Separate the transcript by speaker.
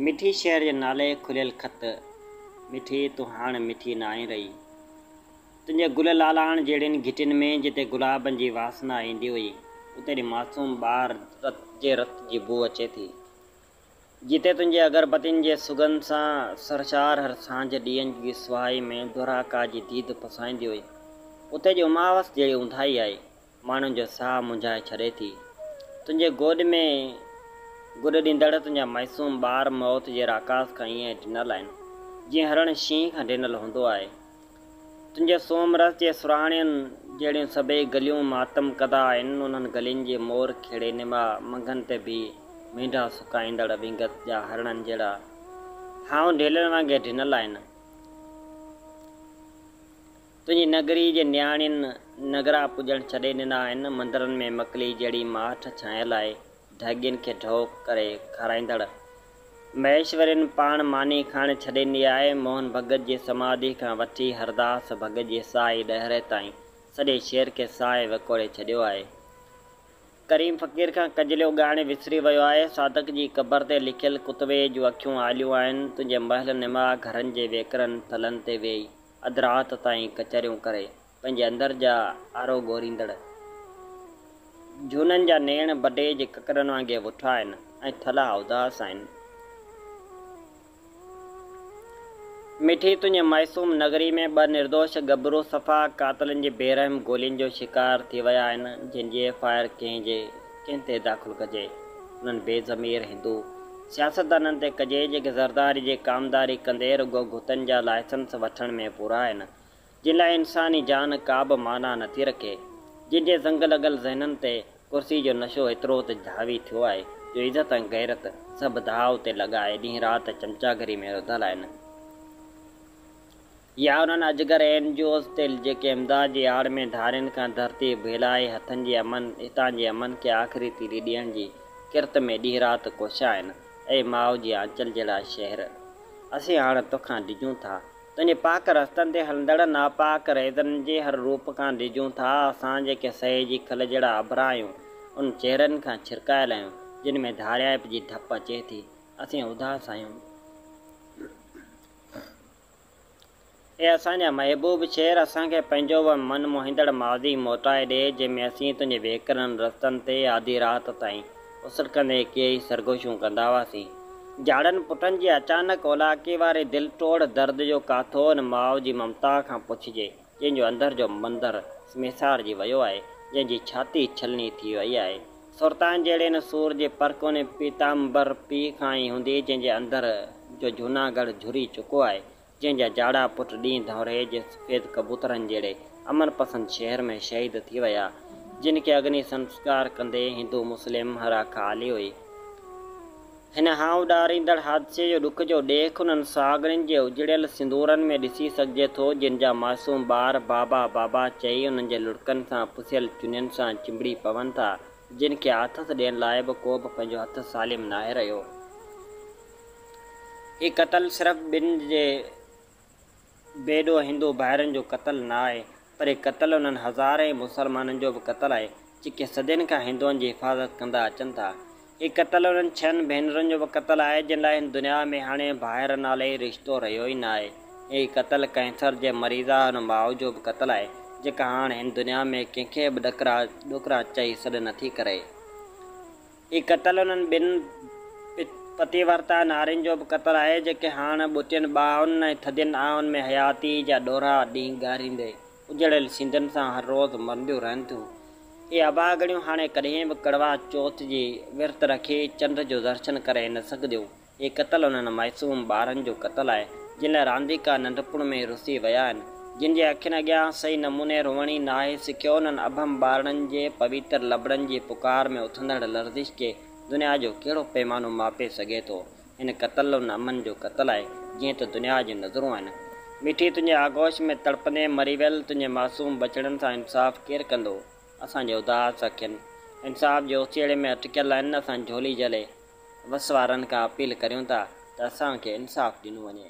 Speaker 1: مٺي شهر جي نالي کليل خط، مٺي تون هاڻ مٺي ناهين رهي. تنهنجي گل لالاڻ جهڙين گهٽين ۾، جتي گلابن جي واسنا ايندي هئي، اتي اڙي معصوم ٻار جي رت جي بوء اچي ٿي. جتي تنهنجي اگربتين جي سگنڌ سان سرشار هر سانجهه ڏيئن جي سوائي ۾ دورهاڪا جي ديد پسائيندي هئي، اتي اڄ اماوس جهڙي اونداهي آهي. ماڻهن جو ساهه منجهائي ڇڏي ٿي. تنهنجي گود ۾ گڏ ڏيندڙ تنهنجا معصوم ٻار موت جي راڪاس کان ائين ڊنل آهن، جيئن هرڻ شينهن کان ڊنل هوندو آهي. تنهنجي سومرس جي سرهاڻين جهڙيون سڀئي گليون ماتم ڪده آهن، انهن گلين جي مور کيڙي نما منگهن تي بيهي مينڍا سڪائيندڙ وينگس جا هرڻن جهڙا هائون ڍيلن وانگي ڊنل آهن. تنهنجي نگريء جي نياڻين نگرا پوڄڻ ڇڏي ڏنا آهن، مندرن ۾ مڪلي جهڙي ماٺ ڇانئن لاء ڍڳين کي ڍؤ ڪري کارائيندڙ مهيشورين پاڻ ماني کائڻ ڇڏي ڏني آهي، موهن ڀڳت جي سماڌيء کان وٺي هرداس ڀڳت جي سائي ڏهري تائين سڄي شهر کي سانء وڪوڙي ڇڏيو آهي. ڪريم فقير کان ڪجليو ڳائڻ وسري ويو آهي، صادق جي قبر تي لکيل ڪتبي جون اکيون آليون آهن، تنهنجي محل نما گهرن جي ويڪرن پلن تي ويهي اڌ رات تائين ڪچهريون ڪري پنهنجي اندر جا آرو ڳوريندڙ جهونن جا نيڻ بڊي جي ڪڪرن وانگي وٺا آهن ۽ ٿلها اداس آهن. مٺي تنهنجي معصوم نگري ۾ ٻه نردوش ڳڀرو صفا قاتلن جي بي رحم گولين جو شڪار ٿي ويا آهن جن جي ايف آء آر ڪنهن جي ڪنهن تي داخل ڪجي. انهن بي ضمير هندو سياستدانن تي ڪجي جيڪي زرداري جي ڪامداري ڪندي رڳو گهتن جا لائسنس وٺڻ ۾ پورا آهن جن لاء انساني جان ڪابه معنيٰ نٿي رکي جن جي زنگ لڳل ذهنن تي ڪرسي جو نشو ايترو ته حاوي ٿيو آهي جو عزت ۽ غيرت سڀ داء تي لڳائي ڏينهن رات چمچاگري ۾ رڌل آهن. يا انهن اجگر اين جي اوز تي جيڪي امداد جي آڙ ۾ ڌارين کان ڌرتي ڀيلائي هٿن جي امن هتان جي امن کي آخري تيلي ڏيڻ جي ڪرت ۾ ڏينهن رات ڪوشا آهن. اي ماء جي آنچل جهڙا شهر! اسين هاڻ توکان ڊڄون ٿا. تنهنجي پاڪ رستن تي هلندڙ ناپاڪ ريزن جي هر روپ کان ڊڄون ٿا. اسان جيڪي سهي جي کل جهڙا اڀرا آهيون، انهن چهرن کان ڇرڪايل آهيون، جن ۾ ڌاريائپ جي ڌپ اچي ٿي. اسين اداس آهيون. اي اسان جا محبوب شعر اسان کي پنهنجو اهو من موهيندڙ ماضي موٽائي ڏي جنهن ۾ اسين تنهنجي ويڪرن رستن تي آڌي رات تائين اسرڪندي ڪيئي سرگوشيون ڪندا هئاسين. جاڙن پٽن جي اچانڪ اولاڪي واري دل ٽوڙ درد جو ڪاٿو ان ماء جي ممتا کان پڇجي. جنهن جو اندر جو مندر سميسار جي ويو آهي، جنهن جي ڇاتي ڇلني ٿي ويئي آهي. سرتان جهڙي ان سور جي پرڪوني پيتامبر پيء کان ئي هوندي، جنهن جي اندر جو جهوناڳڙهه جهري چڪو آهي، جنهن جا جاڙا پٽ ڏينهن ڌؤنري جي سفيد ڪبوترن جهڙي امن پسند شهر ۾ شهيد ٿي ويا، جن کي اگني سنسڪار ڪندي هندو مسلم هراکا آلي هئي. هن هانئڙائيندڙ حادثي جو ڏک جو ڏيک انهن سهاڳڻين جي اجڙيل سندورن ۾ ڏسي سگهجي ٿو، جن جا معصوم ٻار بابا بابا چئي انهن جي لڙڪن سان پسيل چنين سان چنبڙي پون ٿا، جن کي آٿت ڏيڻ لاء به ڪو به پنهنجو هٿ سالم ناهي رهيو. هي قتل صرف ٻن جي بي ڏوهه هندو ڀائرن جو قتل نه آهي، پر هي قتل انهن هزارين مسلمانن جو به قتل آهي، جيڪي صدين کان هندوئن جي حفاظت ڪندا اچن ٿا. هي قتل انهن ڇهن ڀينرن جو به قتل آهي، جن لاء هن دنيا ۾ هاڻي ڀائر نالي رشتو رهيو ئي نه آهي. هي قتل ڪئنسر جي مريضه ان ماء جو به قتل آهي، جيڪا هاڻ هن دنيا ۾ ڪنهن کي به ڏڪرا ڏوڪرا چئي سڏ نٿي ڪري. هي قتل انهن ٻن پتيورتا نارين جو به قتل آهي، جيڪي هاڻ ٻوٽين ٻانهن ۽ ٿڌين آهن ۾ حياتيء جا ڏورا ڏينگاريندي، اجڙيل سينڌن سان هر روز مرنديون رهن ٿيون. اهي اڀاڳڻيون هاڻي ڪڏهن به ڪڙوا چوٿ جي ورت رکي چنڊ جو درشن ڪري نه سگهنديون. هي قتل انهن معصوم ٻارن جو قتل آهي، جن لاء رانديڪا ننڍپڻ ۾ ئي رسي ويا آهن، جن جي اکين اڳيان صحيح نموني روئڻ ئي ناهي سکيو، انهن اڀم ٻارڙن جي پويتر لبڙن جي پڪار ۾ اٿندڙ لرزش کي دنيا جو ڪهڙو پيمانو ماپي سگهي ٿو؟ هن قتل انهن امن جو قتل آهي، جنهن تي دنيا جون نظرون آهن. مٺي تنهنجي آغوش ۾ تڙپندي مري ويل تنهنجي معصوم ٻچڙن سان انصاف ڪير ڪندو؟ اسان جي اداس اکين انصاف جي اوسيئڙي ۾ اٽڪيل آهن، اسان جهولي جهلي وس وارن کان اپيل ڪريون ٿا ته اسان کي انصاف ڏنو وڃي.